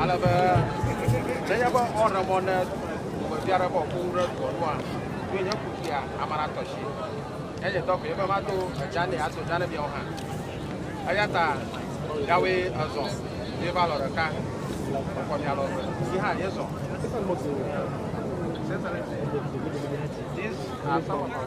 Ale be nenye be woaɖe mɔ ne tugbedzɛ aɖe bɔ ku ɖe dua nua, ɖo nye ku fia ame la tɔ si. Nye nye dɔ koe be mado edza nɛ ado dza ne miawo hã. Eya ta miawoe ezɔ ye va lɔ ɖeka ekɔ mia lɔ eve yi hã ye zɔ. These are some of our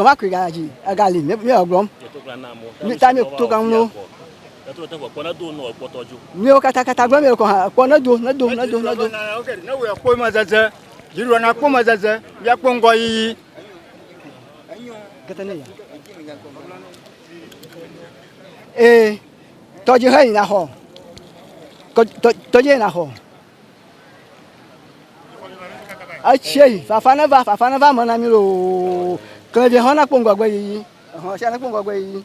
gbɔva kuri ga dzi ega li mi yɔ gblɔm mi ta mi to kan no mi wo kata kata gblɔ mi kɔ ha kpɔ ne do ne do ne do ne do. ne wo yɛ kpɔ ma zɛzɛ yiri wɔ na kpɔ ma zɛzɛ yɛ kpɔ ŋgɔ yiyi. ee tɔdzi hɛ yina xɔ tɔdzi yina xɔ etsie yi fafa ne va fafa ne va me na mi loo klɛvi hɔn na kpɔ ŋgɔgbe yiyi hɔn sia na kpɔ ŋgɔgbe yiyi.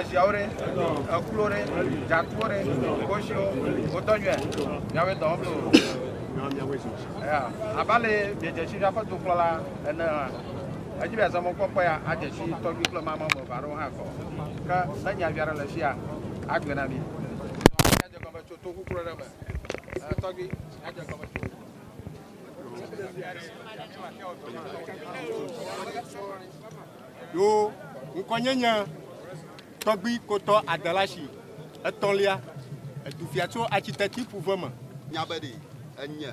eziawo ɖe, ekpluwo ɖe, dzatuwo ɖe, koshiwo, wotɔ nyuia? Miawoe dɔ wɔm loo. Abe ale miedze si miaƒe dukplɔla ene hã. Edzi be azɔ mɔkpɔkpɔ ya adze si tɔgbi kple mama ame eve aɖewo hã kɔ. Ke ne nya vi aɖe le sia, agblɔe na mi. Adze gɔme tso to kuklu aɖe me. Tɔgbi, adze gɔme tso. Thank you. Ɖo ŋkɔnye nye tɔgbui kotɔ adela si etɔ̃lia, edu fia tso architecti ƒuve me. Nya be ɖe enye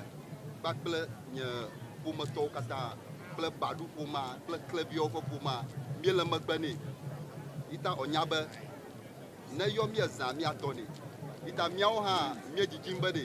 kpakple nye ƒometɔwo katã kple Badu ƒomea kple Kleviawo ƒe ƒomea míele megbe nɛ. Yita ɔnya be ne yɔ míezã míatɔ nɛ. Yita míawo hã míedzidzim be ɖe.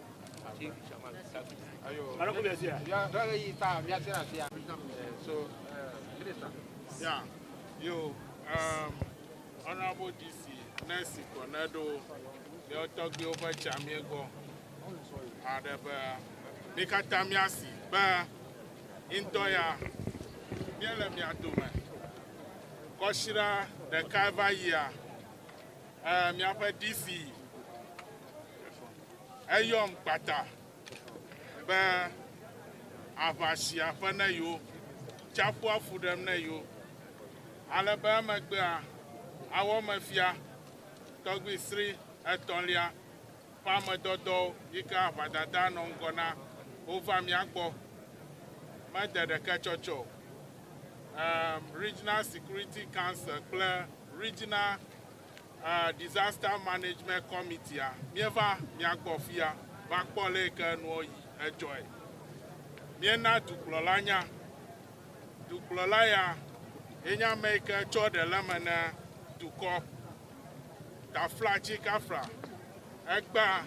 Yeah, yo, um, honorable DC, nurse Cornedo, le ọtọgbewo ƒe tsia mie gbɔ. Aɖe be, mi katã mia si be, ŋdɔ ya, míele mia dome. Kɔsira ɖeka va yia. Eh, miaƒe DC eyɔm kpata be aʋasia ƒe ne yo, tsaƒua fu ɖem ne yo, ale be emegbea awɔ me fia tɔgbi sri etɔ̃lia Ƒe ame dɔdɔwo yi ke aʋadadaa nɔ ŋgɔ na wova mía gbɔ. Mede ɖeke tsɔtsɔ o. Um Regional Security Council kple Regional uh Disaster Management Committee a, míeva mia gbɔ fia va kpɔ ale yi ke nuwo yi edzɔe. Míena dukplɔla nya. Dukplɔla ya ye nye ame yi ke tsɔ ɖe le eme na dukɔ. Tafla tsi kafla ekpea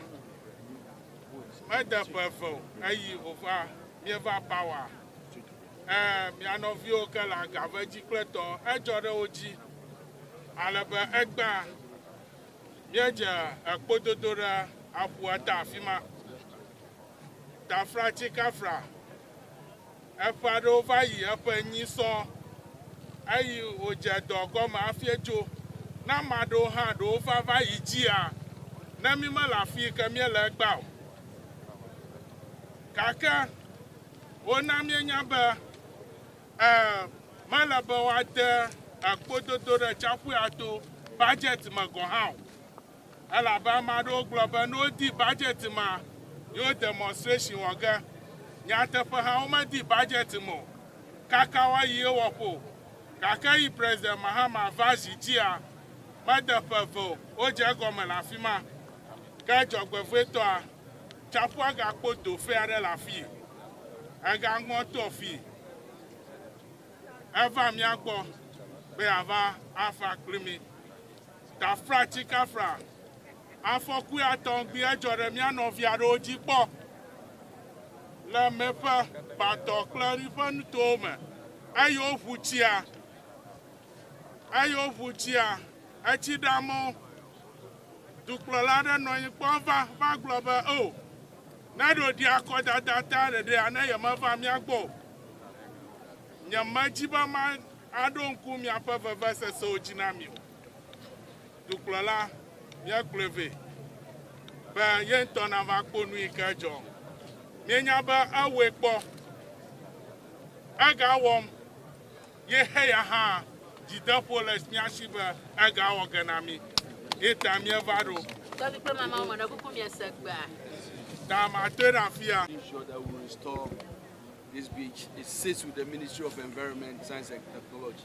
mede ƒe eve o eyi ova mieva power e mia nɔviwo ke le agave dzi kple tɔ edzɔ ɖe wo dzi ale be ekpea miedze ekpododo ɖe aƒua ta afima tafla tsi kafla Eƒe aɖewo va yi eƒe enyi sɔ, eyi wodze dɔ gɔme afie tso. Ne ame aɖewo hã ɖo wofa va yi dzia, ne mí mele afii ke míele egbea o. Gake wona míenya be, e, mele be woade ekpododo ɖe tsiaƒuya to budget me gɔ̃ hã o. Elabe ame aɖewo gblɔ be ne wodi budget ma, yewo demonstration wɔ ge. Nyateƒe hã, womedi budget me o, kaka woayi ewɔƒe o. Gake eyi President Mahama va zi dzia, mede ƒe eve o, wodze egɔme le afi ma. Ke dzɔgbevɔ̃etɔa, tsaƒua gakpo do fɛ̃ aɖe le afii. Egaŋɔ to afii heva mía gbɔ be yeava afa kpli mí. Tafratsikafra, Afɔku ya tɔŋgbi edzɔ ɖe mía nɔvi aɖewo dzi kpɔ le Meƒe, Batɔ kple Eri ƒe nutowo me eye woʋu tsia eye woʋu tsia etsi ɖe amewo. Dukplɔla aɖe nɔ anyi kpɔ va va gblɔ be, Oo, ne ɖo ɖi akɔdada ta ɖeɖea ne yemeva mía gbɔ o. Nyemedi be ma aɖo ŋku miaƒe vevesesewo dzi na mi o. Dukplɔla, míakplɔe vɛ be ye ŋutɔ nava kpɔ nu yi ke dzɔ. Míenya be ewɔe kpɔ. Egawɔm. Ye heya hã dzideƒo le mía si be egawɔ ge na mí. Ye ta míeva ɖo. Tɔvi kple mamawo me ɖe kuku miese gbea. Ta matoe ɖe afia. Ensure that we restore this beach. It sits with the Ministry of Environment, Science and Technology.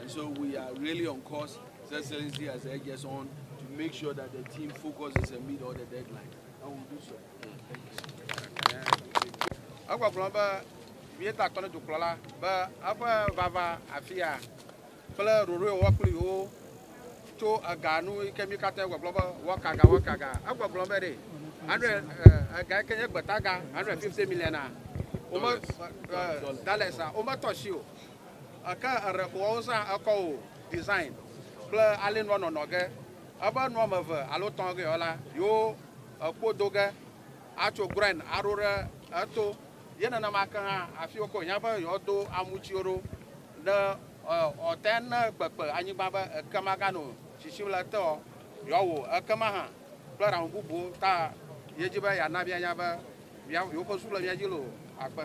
And so we are really on course. His Excellency has urged us on to make sure that the team focuses and meet all the deadlines. And we'll do so. Egbɔgblɔ be míeta akɔ ne dukplɔla be eƒe vava afia kple ɖoɖoe wɔ kpli wo tso ega nu yi ke mí katã gbɔgblɔ be wɔkaga wɔkaga. Egbɔgblɔ be ɖe anɖe ega yi ke nye gbetaga anɖe fifty million a wome dalesa wometɔ si o. Eke eɖe ko woawo zã ekɔ o design kple ale nua nɔnɔ ge. Ebe nua me ve alo tɔn ge yɔ la, yo ekpo do ge atso groin aɖo ɖe eto. Ye nenema ke hã afi wokɔ hiã be yɔ do amu tsiwo ɖo ne ɔte ne kpekpe anyigba be eke maga no shishim le ete ɔ, yɔ wo eke ma hã kple ɖaŋu bubuwo ta ye dzi be ya na mia nya be mia yo ƒe zu le mia dzi lo. Akpe.